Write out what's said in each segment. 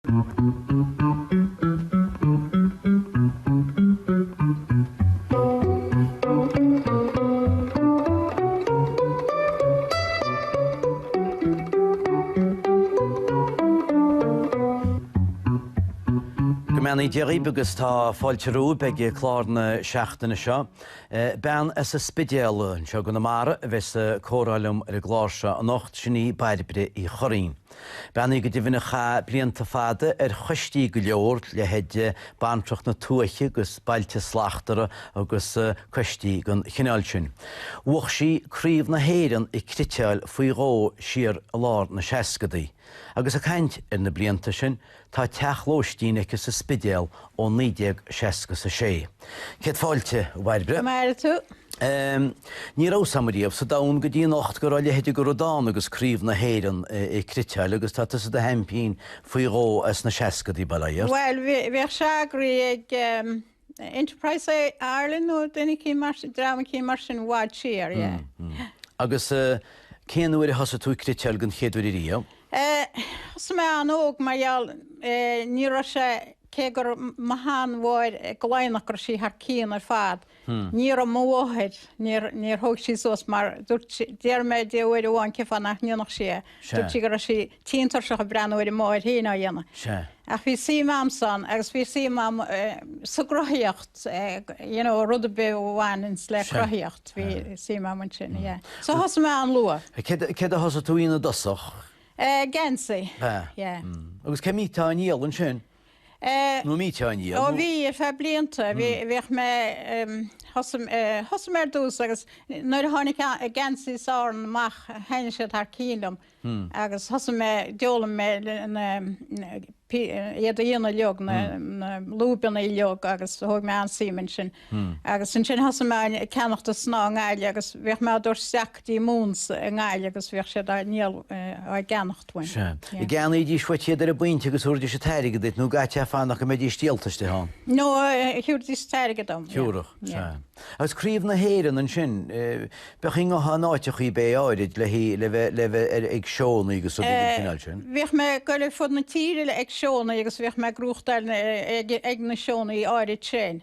Go mbeannaí Dia dhaoibh agus tá fáilte romhaibh ag clár na seachtaine seo. Bean as an Spidéal, anseo i gConamara, a bheas ag comhrá liom ar an gclár seo anocht, sin í Bairbre Uí Churraoin. Bean í go deimhin a chaith blianta fada ar choistí go leor, leithéid Bantracht na Tuaithe agus Bailte Slachtmhara agus coistí den chineál sin. Bhuaigh sí Craobh na hÉireann ag cniotáil faoi dhó siar i lár na seascadaí. Agus ag caint ar na blianta sin, Tá teach lóistín aici sa Spidéal ó 1966. Céad fáilte, a Bhairbre. Go maire tú. Ní raibh a fhios a'm ariamh sa domhan go dtí anocht go raibh a leithide de rud ann agus Craobh na hÉireann ag cniotáil agus tá tusa i do sheaimpín faoi dhó as na seascadaí, bail ó Dhia ort. Bhuel, bhíodh sé eagraithe ag. Enterprise Ireland nó duine eicínt, dream eicínt mar sin i bhfad siar, yeah. Mh. Agus cén uair a thosaigh tú ag cniotáil den chéad uair ariamh. Thosaigh mé an-óg mar gheall, ní raibh sé, cé gur mo sheanmháthair de Laighneach go raibh sí thar cionn ar fad, ní raibh mo mháthair, níor thóg sí suas mar dúirt sí, d'iarr mé di uair amháin cé fáth nach ndéanfadh sí é. Dúirt sí go raibh sí tinn tuirseach ag breathnú ar a máthair féin á dhéanamh. Ach bhí suim a'msa ann agus bhí suim a'm sa gcruthaíocht, you know, rud ar bith a bhaineanns le cruthaíocht, bhí suim a'm ansin, yeah. So thosaigh mé an-luath. Céard a thosaigh tú a dhéanamh i dtosach? Geansaí, yeah. Agus cé mbíteá á ndíol ansin? nó an mbíteá á ndíol. Ó bhí, ar feadh blianta, bhí, bhíodh mé, thosaigh, thosaigh mé ar dtús agus nuair a tháinig geansaís Árann amach thaitin siad thar cionn liom agus thosaigh mé, d'fhoghlaim mé na, iad a dhéanamh uiliog, na lúbannaí uiliog agus thóg mé an-suim ansin. Agus ansin thosaigh mé ag ceannacht an snáth i nGaillimh agus bhíodh mé á dtabhairt isteach go dtí Moons i nGaillimh agus bhíodh siad á ndíol, á gceannacht uaim. Sea. Yeah. An gceannaídís uait iad ar an bpointe agus thiúrfaidís an t-airgead duit nó an gcaithfeá fanacht go mbeidís díolta istigh ann? No, thiúrfaidís an t-airgead dom, yeah. Thiúrfadh, sea. Yeah. Agus craobh na hÉireann ansin, eh, Bheadh an ngabhfá in áiteachaí bé áirid le le bheith le bheith ar ag seónnaí agus rud éigin den chineál sin. Bhíodh mé ag goil ar fud na tíre le ag seónnaí agus bhíodh mé ag gnóthachtáil na ag ag na seónnaí áirid sin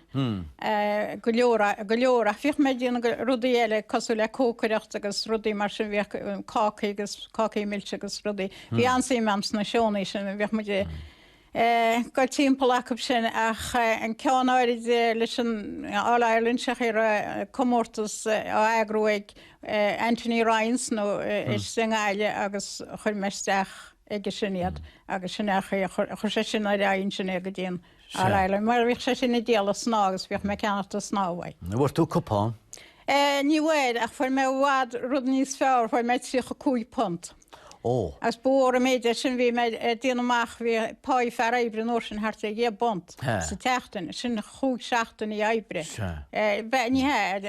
go leor go leor ach bhíodh mé ag déanamh rudaí eile cosúil le cócaireacht agus rudaí mar sin bhíodh cácaí agus cácaí milse agus rudaí bhí an-suim a'm sna seónnaí sin bhíodh muid ag ag dul timpeall acu sin ach an ceann áirid leis an All Ireland sé an chaoi a raibh comórtas á eagrú ag Anthony Ryan's ar ndóigh istigh i nGaillimh agus chuir mé isteach aige sin iad agus sin é an chaoi a chuir sé sin ar aghaidh ansin é go dtí an All Ireland mar bhíodh sé sin ag díol an snáth agus bhíodh mé ag ceannacht an snáth uaidh. An bhfuair tú cupán? Ní bhfuair ach fuair mé i bhfad rud níos fearr, fuair mé £35. Ó. Agus ba mhór an méid é sin. Bhí mé ag déanamh amach, bhí páí fear oibre an uair sin thart ar dheich bpunt sa tseachtain, sin chúig seachtainí oibre. Sea. Ní hea,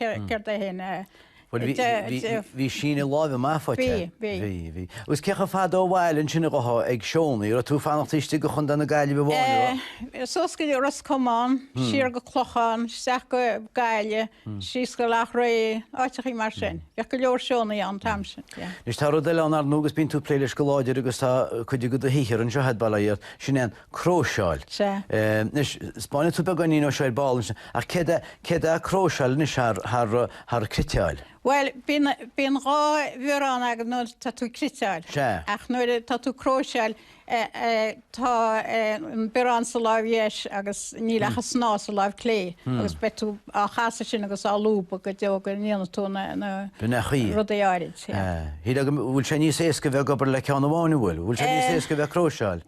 céard é fhéin eh. Bhuel bhí, bhí, bhí síneadh láimhe maith faighte. Bhí, bhí. Bhí, bhí. Agus cé chomh fada ó bhaile ansin a ghabh tú ag seónnaí, a raibh tú ag fanacht taobh istigh de Chontae na Gaillimhe amháin, a raibh? Eh, suas go dtí Ros Comáin, siar go Clochán, isteach go Gaillimh. síos go Loughrea, áiteachaí mar sin. Bheadh go leor seónna ann an t-am sin, yeah. Anois tá rud eile ann ar ndóigh agus bíonn tú ag plé leis go láidir agus tá cuid de do shaothar anseo a'd, bail ó Dhia ort, sin é an cróiseáil. Sea. Anois 'spáinfidh tú beagáinín dhó seo ar ball ansin ach céard é, céard é cróiseáil anois thar, thar, thar cniotáil? Bhuel bíonn, bíonn dhá bhiorán agat nuair tá tú ag cniotáil. Sea. Ach nuair atá tú ag cróiseáil, tá an biorán sa láimh dheis agus níl ach an snáth sa láimh chlé agus beidh tú á chasadh sin agus á lúbadh go deo go ndéana tú na rudaí áirid. Níl a fhios agam, bhfuil sé níos éasca bheith ag obair le ceann amháin, an bhfuil? Bhfuil sé níos éasca bheith ag cróiseáil?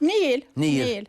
Níl. Níl.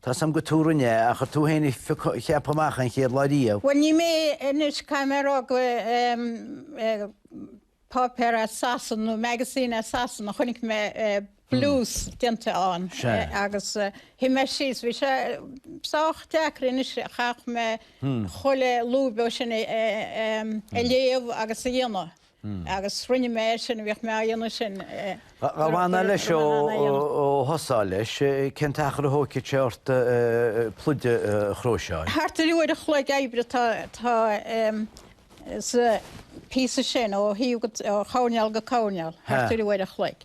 Tá a fhios agam gur tú a rinne é, ach ar tú féin a cheap amach an chéad lá riamh. Bhuel, ní mé anois cá mbeadh rogha páipéar as Sasana nó magazine as Sasana, chonaic mé blús déanta ann agus shuigh mé síos. Bhí sé sách deacair anois, chaithfeadh mé chuile lúb dhó sin a léamh agus a dhéanamh. Agus rinne mé é sin, bhíodh mé á dhéanamh sin. Dhá bhfanfá leis ó thosófá leis, cén t-achar a thógfadh sé ort pluid a chróiseáil? Thart ar uair an chloig oibre atá sa phíosa sin, ó thaobh coirnéal go coirnéal, thart ar uair an chloig.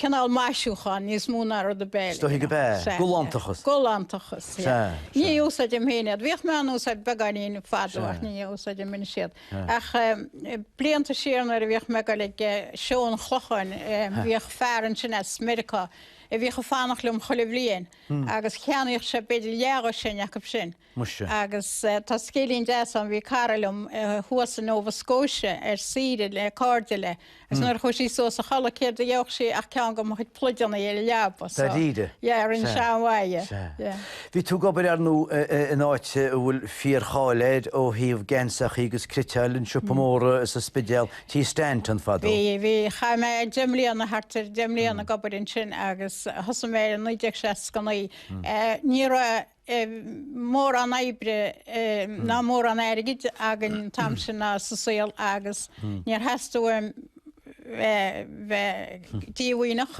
cineál maisiúcháin níos mó ná rud ar bith eile. Is dóichí gurb ea. Sea. Galántachas. Galántachas, sea. Sea, sea. Ní úsáidim féin iad. Bhíodh mé á n-úsáid beagáinín fadó Sea. ach ní úsáidim anois iad. Sea. Ach em, blianta siar nuair a bhíodh mé ag dul ag eh, seó an Chlocháin, em, Sea. bhíodh fear ansin as Meiriceá a bhíodh ag fanacht liom chuile bhliain agus cheannaíodh sé b'fhéidir leathdhoiséin acu sin. Muise. Agus tá scéilín deas ann, bhí cara liom thuas i Nova Scotia ar saoire le cairde léi agus nuair a chuaigh sí suas a chodladh céard a gheobhadh sí ach ceann de mo chuid pluideannaí ar a leaba. So, Dáiríre? yeah, rinne sé an-mhaith, yeah. Sea. Yeah. Bhí tú ag obair, ar ndú, in áit a bhfuil fíor-cháil air ó thaobh geansachaí agus cniotáil, an siopa mór sa Spidéal, Tí Standún, fadó. Bhí, bhí. Chaith mé deich mbliana, thart ar deich mbliana ag obair ansin agus thosaigh mé ann i 1969. Eh, ní raibh. mórán oibre ná mórán airgid againn an t-am sin ná sa saol agus níor theastaigh uaim bheith díomhaoineach.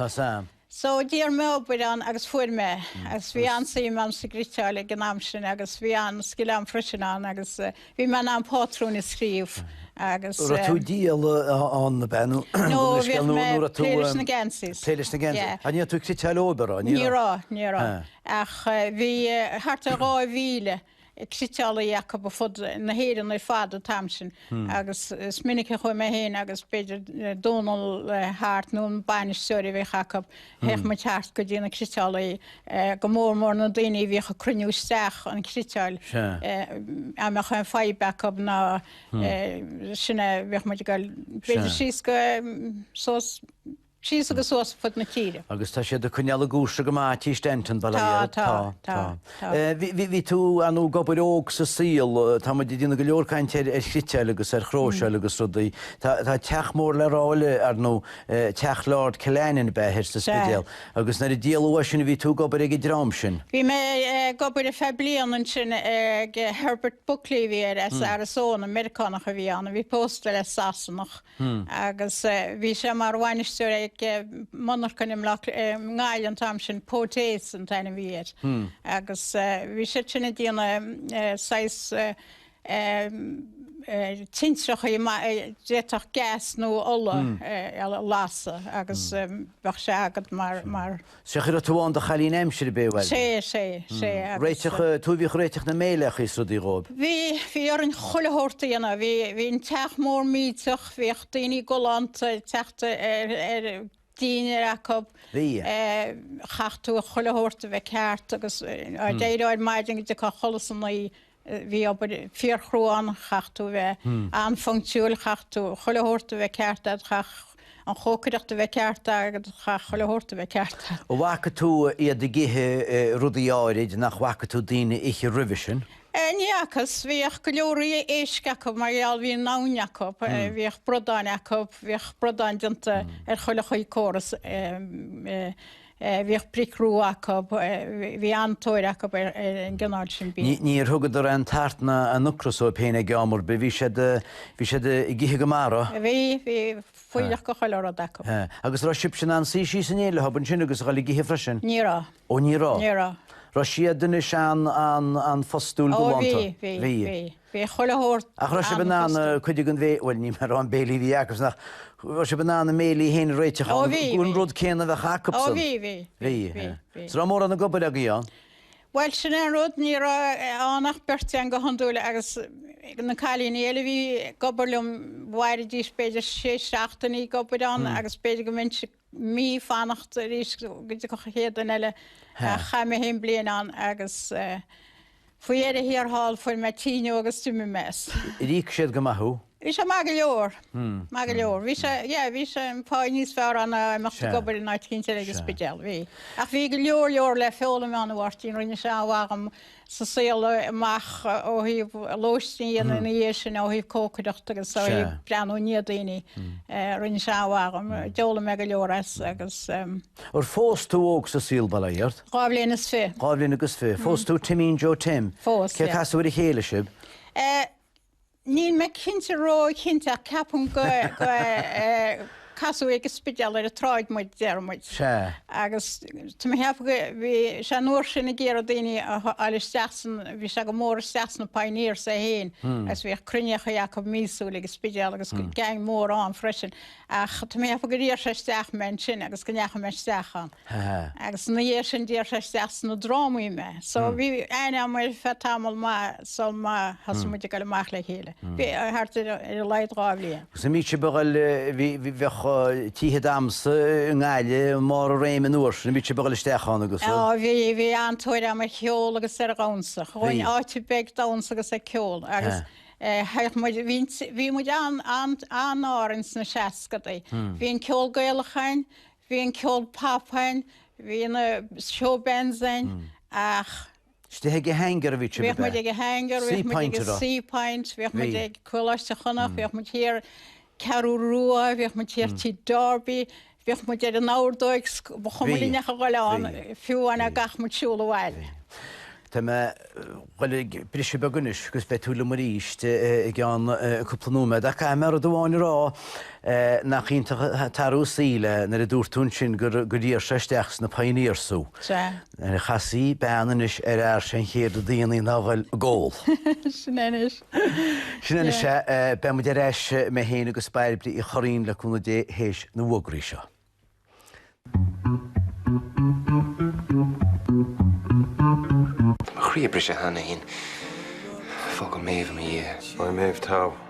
So d'iarr mé obair ann agus fuair mé agus bhí an-suim agam sa gcniotáil ag an am sin agus bhí an-scil agam froisin ann agus Bhí mé in ann pátrúin a scríobh agus. Raibh tú ag díol ann nó b'in? No, bhíodh mé ag plé leis na geansaíos. Plé leis na geansaíos? Ní raibh tú ag cniotáil obair ann? Ní raibh, ní raibh. Ach bhí thart ar 2,000 cniotálaí acu ar fud na hÉireann ar fad an t-am sin agus is minic a chuaigh mé féin agus b'fhéidir Dónall Hart nó an bainisteoir a bhíodh acu Théadh muid thart go dtí na cniotálaí, go mór mór na daoine a bhíodh ag cruinniú isteach an cniotáil. Dá mbeadh aon fadhb acu ná sin, bhíodh muid ag goil b'fhéidir síos go, suas, síos agus suas fud na tíre. Agus tá siad ag coinneáil a gcúrsa go maith, Tí Standún, bail ó Dhia orthu? Tá, tá, tá. Bhí tú ar ndú ag obair óg sa saol. Tá muid ag déanamh go leor cainte ar chniotáil agus ar chróiseáil agus rudaí. Tá teach mór le rá eile ar ndú teach Lord Killannin ab ea thoir sa Spidéal agus nuair a díoladh uaidh sin bhí tú ag obair ag an dream sin. Bhí mé ag obair ar feadh bliain ansin ag Herbert Buckley a bhí air as Arizona, Meiriceánach a bhí ann a bhí pósta le Sasanach agus bhí sé mar bhainisteoir ag monarcha an mBleaic i nGaillimh an t-am sin, Potez an t-ainm a bhí air, agus bhí siad sin ag déanamh saghas tintreacha a d'fhéadfadh gas nó ola a lasadh agus bheadh sé agat mar. Sea, cé a raibh tú i do chailín aimsire, ab ea. Sea, sea, sea, agus. Tú a bhíodh ag réiteach na méileachaí is rudaí dhóib. Bhí, bhí orainn chuile shórt a dhéanamh. Bhí, bhí an teach mór millteach, bhíodh daoine galánta ag teacht ar, ar, dínnéar acu. Bhí. Chaithfeadh tú chuile shórt a bheith ceart agus, á, ó d'éireofá ar maidin go dtiocfá a chodladh san oíche Bhí obair fíorchrua ann, chaithfeadh tú a bheith an-phonctiúil, chaithfeadh tú chuile shórt a bheith ceart agat, chaithfeadh an chócaireacht a bheith ceart agat, chaithfeadh chuile shórt a bheith ceart agat. An bhfaca tú iad ag ithe rudaí áirid nach bhfaca tú daoine ag ithe roimhe sin? Ní fhacas. Bhíodh go leor éisc acu mar gheall, bhí an abhainn acu, bhíodh bradáin acu, bhíodh bradáin déanta ar chuile chaoi córas. bhíodh bric rua acu, bhí an-tóir acu ar an gcineál sin bia. Níor thugadar aon tart ná aon ocras dóibh féin ag am ar bith, bhí siad, bhí siad ag ithe go maith. Bhí, bhí fuílleach de chuile rud acu. Agus an raibh sibhse in ann suí síos in éineacht leo ansin agus a dhul ag ithe freisin? Ní raibh. Ó ní raibh? Ní raibh. Raibh siad anois an, an-phostúil galánta? Ó bhí, bhí, bhí. Bhí chuile shórt Ach raibh sibh in ann an-phostúil. cuid den bhé, bhuel, ní mé a raibh an béilí a bhí acub, nach, raibh sibh in ann a mbéilí féin a réiteach Ó ann, bhí, an, an bhí. rud céanna a bheadh Ó acubsan? bhí, bhí, bhí, Bhí, bhí, yeah. bhí. So raibh mórán ag obair agaibh ann? Bhuel, sin é an rud, ní raibh ann ach beirt againn go hiondúil agus na cailíní eile a bhí ag obair liom, mhairidís b'fhéidir sé seachtainí ag obair ann agus b'fhéidir go mbeinnse mí fanacht arís go dtiocfadh chéad duine eile ach chaith mé fhéin bliain ann agus faoi dheireadh thiar thall fuair mé tinn díobh agus d'imigh mé as. Ar íoc siad go maith thú? Bhí sé maith go leor, maith go leor. Bhí sé, yeah, bhí sé an pháigh níos fearr ann ná imeacht ag obair in áit eicínt ag an Spidéal, bhí. Ach bhí go leor leor le foghlaim ann a Mháirtín, rinne sé an-mhaith dhom sa saol amach ó thaobh lóistín a dhéanamh ina dhiaidh sin, ó thaobh cócaireachta agus ó thaobh breathnú i ndiaidh daoine. Rinne sé an-mhaith dhom, d'fhoghlaim mé go leor as agus. Ar phós tú óg sa saol, bail ó Dhia ort? Dhá bhliain is fiche. Dhá bhliain agus fiche. Phós tú Timín Joe Tim. Phós, yeah. Cé casadh ar a chéile sibh? Níl mé cinnte, róchinnte, ach ceapaim gur casadh ag an Spidéal ar an tsráid muid, déarfaidh muid. Sea. Agus tá mé ag ceapadh go, bhí sé an uair sin ag iarraidh daoine a ghoil isteach san, bhí sé go mór isteach sna pioneers é fhéin agus bhíodh cruinníochaí acu míosúil ag an Spidéal agus gang mór ann freisin. Ach tá mé ag ceapadh gur iarr sé isteach mé ansin agus go ndeachaigh mé isteach ann. Agus ina dhiaidh sin d'iarr sé isteach sna drámaí mé. So bhí aithne agam air ar feadh tamall maith sul má thosaigh muid ag goil amach le chéile. Bhí, thart ar a laghad dhá bhliain. Agus an mbíodh sibh ag goil, bheadh tithe damhsa i nGaillimh i mbarr a réime an uair sin, an mbíodh sibh ag goil isteach ann agus a? Á bhí, bhí an-tóir agam ar cheol agus ar dhamhsa. Ghabhfainn áit ar bith ag damhsa agus ag ceol agus Thuig muid, bhí muid an-ádhúil sna seascadaí. Bhí an ceol Gaelach againn, bhí an ceol pop againn, bhí na showbands againn ach. Istigh ag a Hanger a bhí sibh, ab ea? Bhíodh muid ag a Hanger, bhíodh muid ag a Seapoint, bhíodh muid ag Coláiste Chonnacht, bhíodh muid thiar Ceathrú Rua, bhíodh muid thiar Tigh Darby, Bhíodh muid ar an ordóig 's ba chuma Bhí. linn ach a ghoil ann, Bhí. fiú amháin dhá Bhí. gcaithfeadh muid siúl abhaile. Bhí. Tá mé ghoil ag briseadh beag anois 'gus beidh tú liom arís i gceann cúpla nóiméad ach caithfidh mé rud amháin a rá, nach iontach an t-athrú saoil é nuair a dúirt tú ansin gur iarr sé isteach sna Pioneers thú. Sea. Nuair a chasfaidh bean anois ar fhear sé an chéad rud a dhéanann siad ná ghoil ag ól. Sin anois. Sin anois ea. Beidh muid ar ais, mé féin agus Bairbre Uí Churraoin, le cúnamh Dé, théis na bhfógraí seo. Croí briste cheana féin. Fágadh Méabh i mo dhiaidh. Bhí Méabh teo.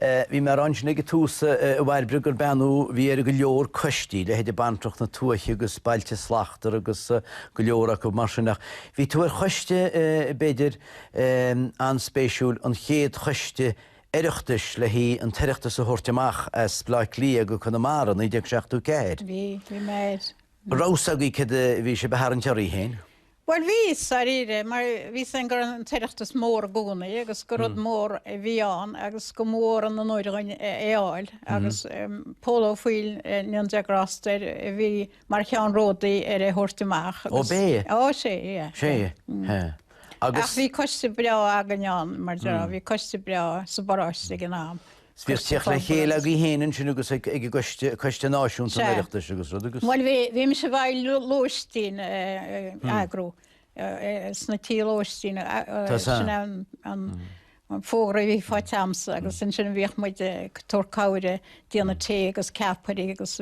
Bhí muid ansin ag an tús a Bhairbre gur bean thú a bhí ar go leor coistí, leithéide Bantracht na Tuaithe agus Bailte Slachtmhara agus go leor acu mar sin. Ach bhí tú ar choiste, b'fhéidir, an-spéisiúil, an chéad choiste Oireachtais le haghaidh an tOireachtas a thabhairt amach as Baile Átha Cliath go Conamara, 1974. Bhí, bhí mé air. Raibh fhios agaibh céard a bhí sibh a tharraingt oraibh héin. Bhuel, bhí fhios, dáiríre, mar bhí fhios againn go raibh an tOireachtas mór i gcónaí agus gur rud mór a bhí ann agus go mba mhór an onóir dhúinn é a fháil agus Pól Ó Foighil, go ndéana Dia grásta air, a bhí mar cheannródaí ar é thabhairt amach agus. Ó, b'é? Ó, sé, yeah. Sé, yeah. Agus. Ach bhí coiste breá againn ann, mar bhí coiste breá sa bparáiste ag an am. Is bhí teacht le chéile againn héin ansin agus ag an gcoiste, Coiste Náisiúnta an Oireachtais agus rud agus. Bhuel, bhí mise i bhfeighil lóistín a eagrú sna tithe lóistín, sin é an fógra a bhí faighte agamsa agus ansin bhíodh muid ag tabhairt cabhair ag déanamh tae agus ceapairí agus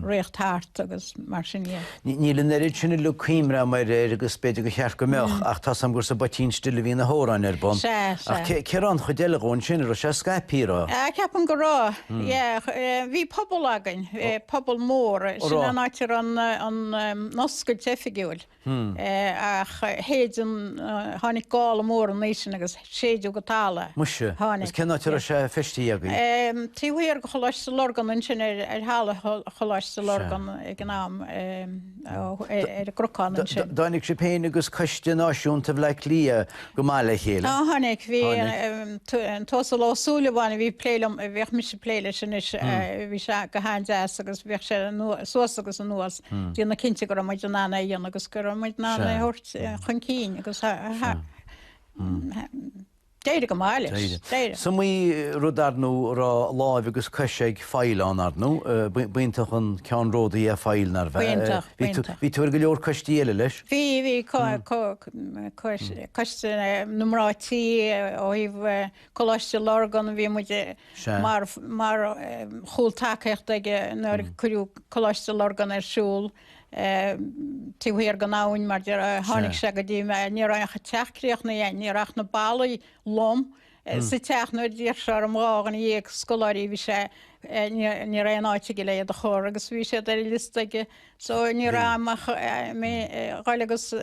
rith thart agus mar sin. Níl an oiread sin uilig cuimhne agam air agus b'fhéidir gur cheart go mbeadh, ach tá's agam gur sa bPoitín Stil a bhí na hamhráin ar bun. Sea, sea. Ach cén áit a raibh an chuid eile dhó ansin? An raibh sé scaipthe a raibh. Ceapaim go raibh, yeah. Bhí puball againn, puball mór. Sin an áit a raibh an oscailt oifigiúil. Ach shéid an, tháinig gála mór an oíche sin agus. séideadh go talamh é. Muise, agus cén áit a raibh sé feistithe agaibh? Taobh thiar de Choláiste Lurgan, ansin ar thalamh Choláiste Lurgan ag an am, ar an gCrucán ansin. Dtáinig sibh féin agus Coiste Náisiúnta Bhleá Cliath go maith le chéile? Á tháinig, bhí an tUasal Ó Súilleabháin a bhí ag plé liom, a bhíodh mise ag plé leis anois, bhí sé go han-deas agus bhíodh sé suas agus anuas, déanamh cinnte go raibh muid in ann é a dhéanamh agus go raibh muid in ann é a thabhairt chun cinn agus thart. D'éirigh go maith leis. D'éirigh. Aon rud ar ndóigh a raibh láimh agus cos ag Ó Foighil ann ar ndóigh, b'iontach an ceannródaí é Ó Foighil, nárbh ea? B'iontach, b'iontach. Bhí tú ar go leor coistí eile leis? Bhí, bhí coiste na mná tí ó thaobh Coláiste Lurgan, bhí muid mar chúltacaíocht aige nuair cuireadh Coláiste Lurgan ar siúl. Taobh thiar den abhainn, mar déarfá, tháinig sé go dtí mé. Ní raibh ach teach críochnaithe ann, ní raibh ach na ballaí lom sa teach. Nuair a d'iarr sé orm dhá dhuine dhéag scoláirí, bhí sé, ní raibh aon áit aige le hiad a chur agus bhí siad ar a liosta aige. So ní raibh aon mhaith ann ach a dhul agus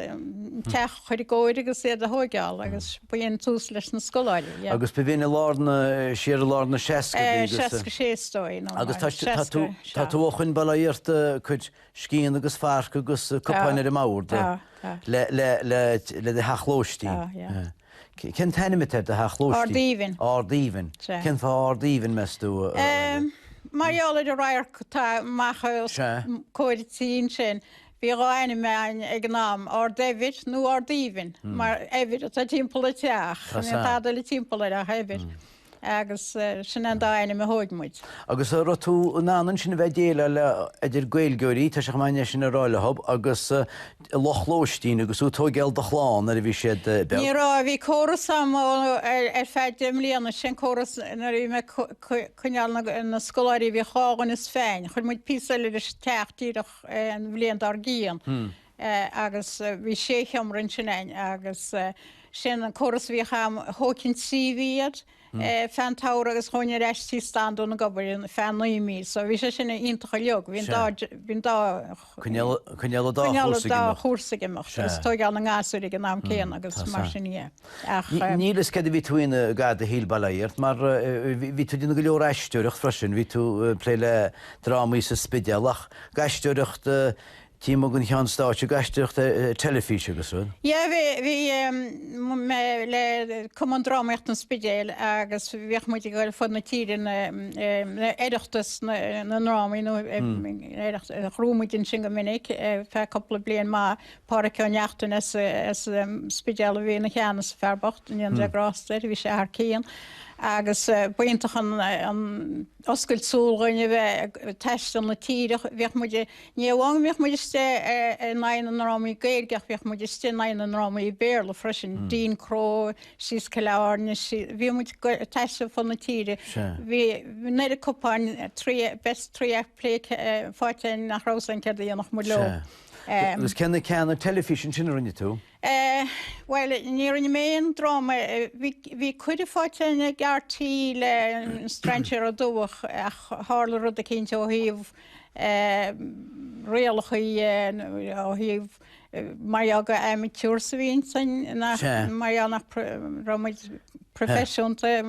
teach. chur i gcóir agus iad a thóigeáil agus b'in é an tús leis na scoláirí. Agus ba, b'in i lár na, siar i lár na 60idí agus. 66 is dóigh, nó Agus tá, tá tú, tá tú ó shin, bail ó Dhia ort, ag cur scian agus farc agus cupáin ar an mbord Tá, tá. le, le, le, le do theach lóistín. Tá, yeah. C- cén t-ainm atá ar do theach lóistín? Ard Aoibhinn. Ard Aoibhinn. Sea. Cén fáth Ard Aoibhinn, meas tú? Em, mar gheall ar an radharc atá amach Sea. ós comhair an tí ansin, Bhí dhá ainm ann ag an am, Ard Eibhir nó Ard Aoibhinn, mar eibhir atá timpeall an teach, níl tada eile timpeall air ach eibhir, agus sin an dá ainm a phioc muid. Agus a raibh tú in ann ansin a bheith ag déileáil le, idir Gaeilgeoirí, tá sé chomh maith é sin a rá leob, agus lucht lóistín agus tú ag tóigeáil do chlann nuair a bhí siad beag? Ní raibh, bhí córas ann ar feadh deich mbliana, sin córas nuair a bhí mé ag coinneáil na scoláirí, bhíodh dhá dhuine ag muid féin, chuir muid píosa eile leis an teach díreach, an bhliain dár gcionn agus bhí sé sheomra ansin againn agus sin an córas a bhíodh ann. Thógainn trí mhí iad feadh an tsamhraidh agus ghabhainn ar ais Tí Standún ag obair feadh naoi mí so bhí sé sin iontach uilig. Bhí an dá, bhí mé ag coinneáil an dá chúrsa ag imeacht agus tóigeáil na ngasúr ag an am céanna agus mar sin, yeah. Ach. Níl a fhios cén chaoi a bhí tú i ndan é a dhéanamh, a Shíle, bail ó Dhia ort mar bhí tú ag déanamh go leor aisteoireacht freisin, bhí tú ag plé le drámaí sa Spidéal ach go aisteoireacht tuigim go ndeachaigh tú ón stáitse go aisteoireacht ar teilifís agus rud? Yeah bhí, bhí mé le Cumann Drámaíochta an Spidéil agus bhíodh muid ag dul fud na tíre na Oireachtas na ndrámaí nó Oireachtas, chruinnigh muid ansin go minic ar feadh cúpla bliain maith. Pádraic Ó Neachtain as an Spidéal a bhí i gceannas, an fear bocht, go ndéana Dia grásta air, bhí sé thar cionn agus b'iontach an oscailt súl dhuinn a bheith ag taisteal na tíre. Bhíodh muid, ní hamháin go mbíodh muid istigh in aghaidh na ndrámaí Gaeilge ach bhíodh muid istigh in aghaidh na ndrámaí Béarla freisin, Dean Crowe, síos Cill Airne, bhíodh muid ag taisteal fud na tíre. Bhí an oiread cupáin, best three act play faighte againn nach raibh a fhios againn céard a dhéanfadh muid leo. Agus cé na ceanna ar teilifís ansin a rinne tú? Bhuel, ní rinne mé aon dráma. Bhí, bhí cuireadh faighte againn a dhul ar TV le Strainséir Dubh ach tharla rud eicínt ó thaobh rialacha, ó thaobh mar gheall gur amateurs a bhí ionainn, nach, mar gheall nach raibh muid proifisiúnta,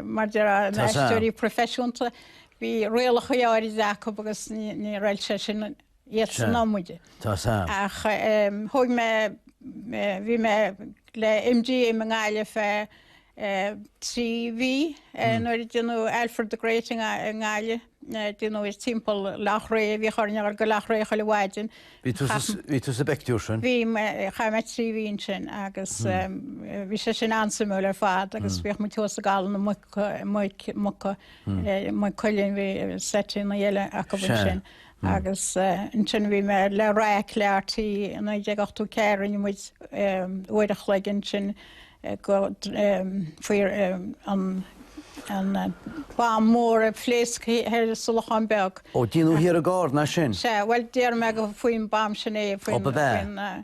mar déarfá na haisteoirí proifisiúnta, bhí rialacha áirid acu agus ní, ní raibh sé sin iad san iomaidh. Ach thug, bhí mé le MG i nGaillimh le trí mhí nuair a déanadh Alfred the Great i nGaillimh, déanadh é timpeall Loch Rí, bhíodh orainn a dhul go Loch Rí chuile mhaidin. Bhí tú sa bpictiúr sin? Bhí, chaith mé trí mhí ansin agus bhí sé sin an-suimiúil ar fad agus bhíodh muid thuas i gCaladh na Muc, Maigh Cuilinn, bhí seití 'n a leithéid acub ansin. Agus ansin bhí mé le raic le RTÉ i 1984, rinne muid uair a chloig ansin go faoi an bomb mór a phléasc ar Sulachán Beag. Ó, déanadh thiar i gCarna sin? Sea, bhuel déarfaidh mé gur faoin mbomb sin é. Ó, ba bhea.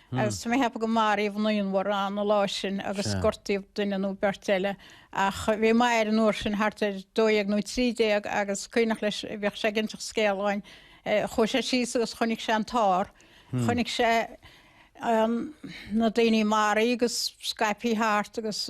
agus tá mé a' cheapadh go maraíodh naonbhar ann an lá sin agus gortaíodh duine nó beirt eile, ach bhí m'athair an uair sin thart ar dó dhéag nó trí déag agus cuimhneach leis, bhíodh sé ag inseacht an scéil dhúinn, chuaigh sé síos agus chonaic sé an t-ár, chonaic sé na daoine maraithe agus scaipthe thart agus,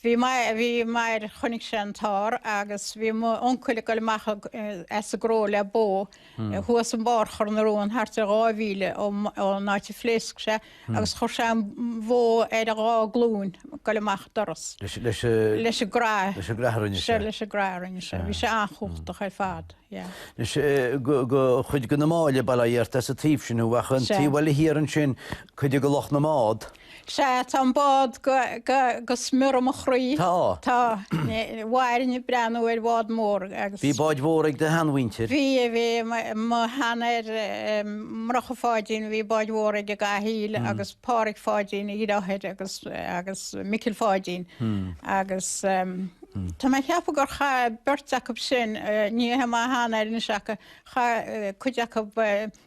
Bhí m'athair, chonaic sé an t-ár agus bhí mo uncail ag dul amach as a gcró le bó thuas an barr Choirnéal na Rón thart ar dhá mhíle ón áit a phléasc sé agus chuir sé an bhó ar a dhá glúin ag dul amach an doras leis an gcrá a rinne sé. Bhí sé an-chumhachtach ar fad. Anois de chuid de na Máille, Ó Flaithearta as an taobh sin thú ach an taobh eile thiar ansin cuid de lucht na mbád. Sea, tá an bád go smior i mo chroí. Tá. Tá. Mhairfinn ag breathnú ar bhád mór agus. Bhí báid mhóra ag do sheanmhuintir? Bhí, bhí. Mo sheanathair, Murchadh Pháidín, bhí báid mhóra ag Cathal agus Páraic Pháidín, a dhriotháir, agus, agus Micil Pháidín. Agus tá mé ag ceapadh gur chaith beirt acub sin, ní he mo sheanathair anois ach chaith cuid acub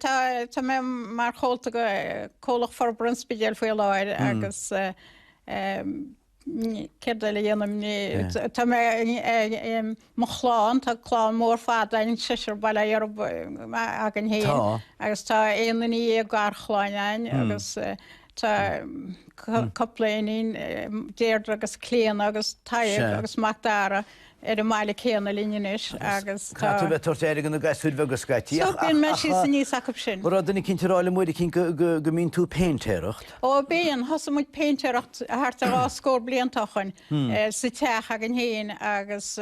Tá mé mar chomhalta de Chomhlacht Forbartha an Spidéil faoi láthair agus céard eile a dhéanaim, tá mo chlann, tá clann mhór fada againn, seisear bailithe againn fhéin agus tá aon duine dhéag garchlann againn agus, Tá cupla iníon, Déirdre agus Clíodhna agus Tadhg agus Macdara, ar an mbaile céanna linn anois agus tá. Caithfidh tú a bheith ag tabhairt aire do na gasúir bheaga scaití ach. So bíonn mé síos aníos acub sin. Bhí duine eicínt ag rá liom uair eicínt go mbíonn tú ag péintéireacht. Ó bíonn, thosaigh muid péintéireacht thart ar dhá scór bliain ó shoin sa teach againn fhéin agus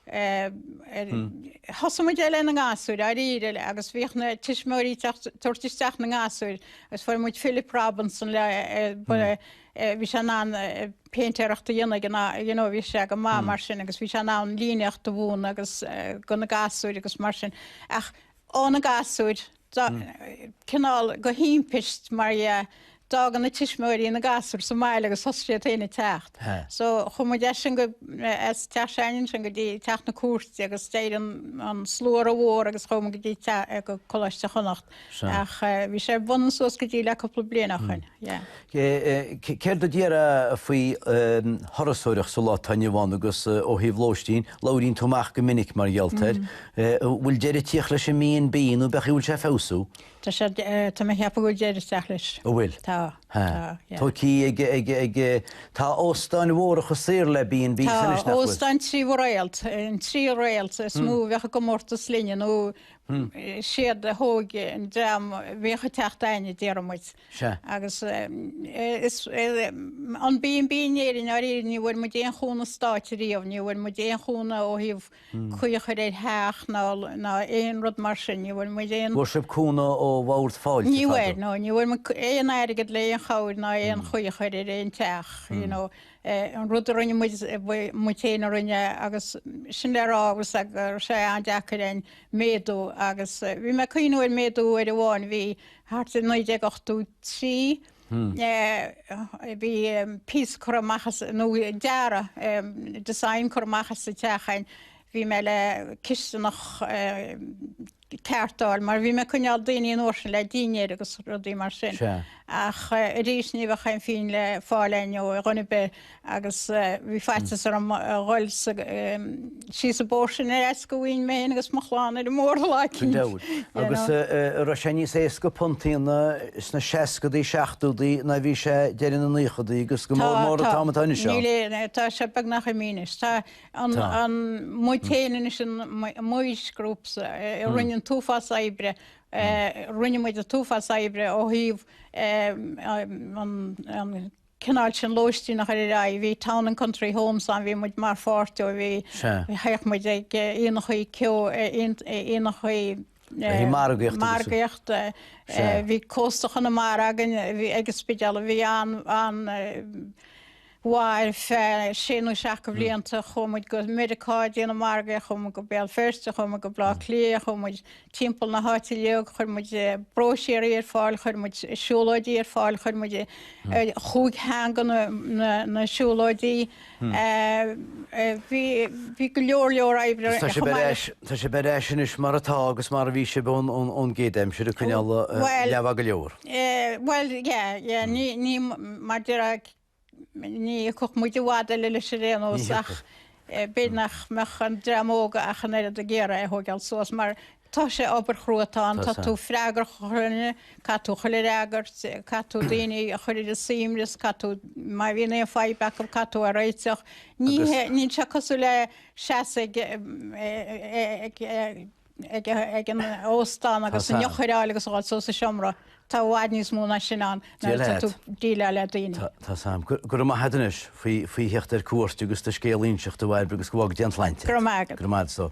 Thosaigh muid ar leith na ngasúir, dáiríre, agus bhíodh na tuismitheoirí ag tabhairt isteach na ngasúir, agus fuair muid Philip Robinson le, bhí sé in ann péintéireacht a dhéanamh ag an am, you know, bhí sé go maith mar sin, agus bhí sé in ann líníocht a mhúineadh agus, do na gasúir agus mar sin, ach, ó na gasúir, cineál de thimpist, mar a d'fhág na tuismitheoirí na gasúir sa mbaile agus thosaigh siad féin ag teacht. So, chuaigh muid as sin go, as Teach Sheáin ansin go dtí Teach na Cúirte agus d'éirigh an slua rómhór agus chuaigh muid go dtí teach, go Coláiste Chonnacht ach bhí sé ar bun suas go dtí le cúpla bliain ó shin, yeah. Céard a déarfá faoi thurasóireacht sa lá atá inniu ann agus, ó thaobh lóistín, labhraíonn tú amach go minic mar gheall air, bhfuil deireadh ag tíocht leis an mB and B nó b'fhéidir bhfuil sé ag feabhsú? Tá sé, tá mé ag ceapadh go bhfuil deireadh ag teacht leis. An bhfuil? Tá, tá, yeah. Tá cí ag, ag, ag, tá óstáin mhóra chomh saor le B and Bs anois, nach bhfuil? Tá óstáin trí réalt, an trí réalt is mó a bheadh i gcomórtas linne nó siad a thóg an dream bhíodh ag teacht againne, déaraimis. Sea. Agus is an B and B in Éirinn dáiríre, ní bhfuair muid aon chúnamh stáit riamh, ní bhfuair muid aon chúnamh ó thaobh caoi a chur ar theach ná ná aon rud mar sin, ní bhfuair muid aon. Bhfuair sibh cúnamh ó bhord fáilte, fadó? Ní bhfuair, nó ní bhfuair muid aon airgead le aon chabhair ná aon chaoi a chur ar aon teach, you know. An rud a rinne muid, muid féin a rinne é agus sin an rud a d'fhág sé an-deacair an méadú agus bhí mé ag cuimhneamh ar mhéadú uair amháin, bhí Thart ar 1983 bhí píosa curtha amach, nó dearadh, design, curtha amach sa teach a'inn. Bhí mé le cisteanach a cheartáil mar bhí mé ag coinneáil daoine an uair sin le dinnéir agus rudaí mar sin. Ach arís ní bheadh aon phingin le fáil a'inn ó dhuine ar bith. agus bhí faitíos orm a dhul síos an bóthar sin ar fhaitíos go mbeinn mé féin agus mo chlann ar an mbóthar le cinnte. Go deimhin. Agus raibh sé níos éasca go bunúsach sna seascadaí, seachtódaí ná a bhí sé deireadh na naochadaí agus go mór mór an t-am atá anois ann. Níl aon, tá sé beagnach imithe anois. Tá, muid féin anois an Moyes Group a rinne an t-uafás oibre, rinne muid an t-uafás oibre ó thaobh an cineál sin lóistín a chur ar aghaidh. Bhí town and country homes ann, bhí muid mar pháirt díobh, bhí, théadh muid ag aonachaí seó, aonachaí, margaíocht, bhí Cósta Chonamara againn ag an Spidéal a bhí an-mhaith ar feadh sé nó seacht de bhlianta, chuaigh muid go Meiriceá ag déanamh margaíocht, chuaigh muid go Béal Feirste, chuaigh muid go Baile Átha Cliath, chuaigh muid, timpeall na háite léag, chuir muid bróisiéirí ar fáil, chuir muid siúlóidí ar fáil, chuir muid chúig theanga ar na siúlóidí. Bhí go leor leor oibre a rinne muid. Tá sibh ar ais anois mar atá agus mar a bhí sibh ón gcéad aimsir ag coinneáil leaba go leor. Bhuel, yeah, yeah, ní, ní, mar deir Ní thiocfadh muid i bhfad eile leis ar aon nós ach b'fhéidir nach mbeadh an dream óg ach an oiread ag iarraidh é a thógáil suas mar tá sé, obair chrua atá ann, tá tú freagrach as chuile dhuine, caithfidh tú chuile fhreagairt, caithfidh tú daoine a chur ar a suaimhneas, caithfidh tú, má bhíonn aon fadhb acu, caithfidh tú é a réiteach. Ní hé, níl sé cosúil le seasamh ag. ag an óstán agus an eochair a fháil agus a ghoil suas sa seomra, tá i bhfad níos mó ná sin ann nuair atá tú ag déileáil le daoine. Tá, sea. Go raibh maith agat anois faoi theacht ar cuairt agus do scéal a inseacht a Bhairbre agus go bhfága Dia an tsláinte agat. Go raibh maith agatsa.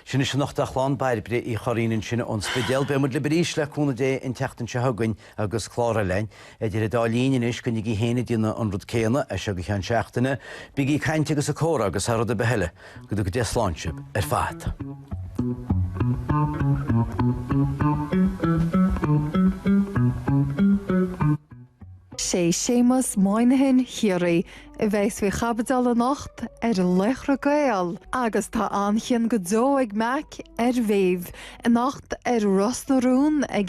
Sin sin anocht. Slán le Bairbre Uí Churraoin ansin ón Spidéal. Beimid libh arís le cúnamh Dé an tseachtain seo chugainn. agus clár eile againn, idir an dá linn anois, coinnígí féin ag déanamh an rud céanna as seo go ceann seachtaine, bígí ag caint agus ag comhrá agus thar rud ar bith eile, go dtuga Dia slán sibh ar fad. Sé Séamus Moynihan Chiarraí a bheas faoi chaibideal anocht ar Laochra Gael agus tá an-chion go deo ag Mack ar Mhéabh anocht ar Ros na Rún ag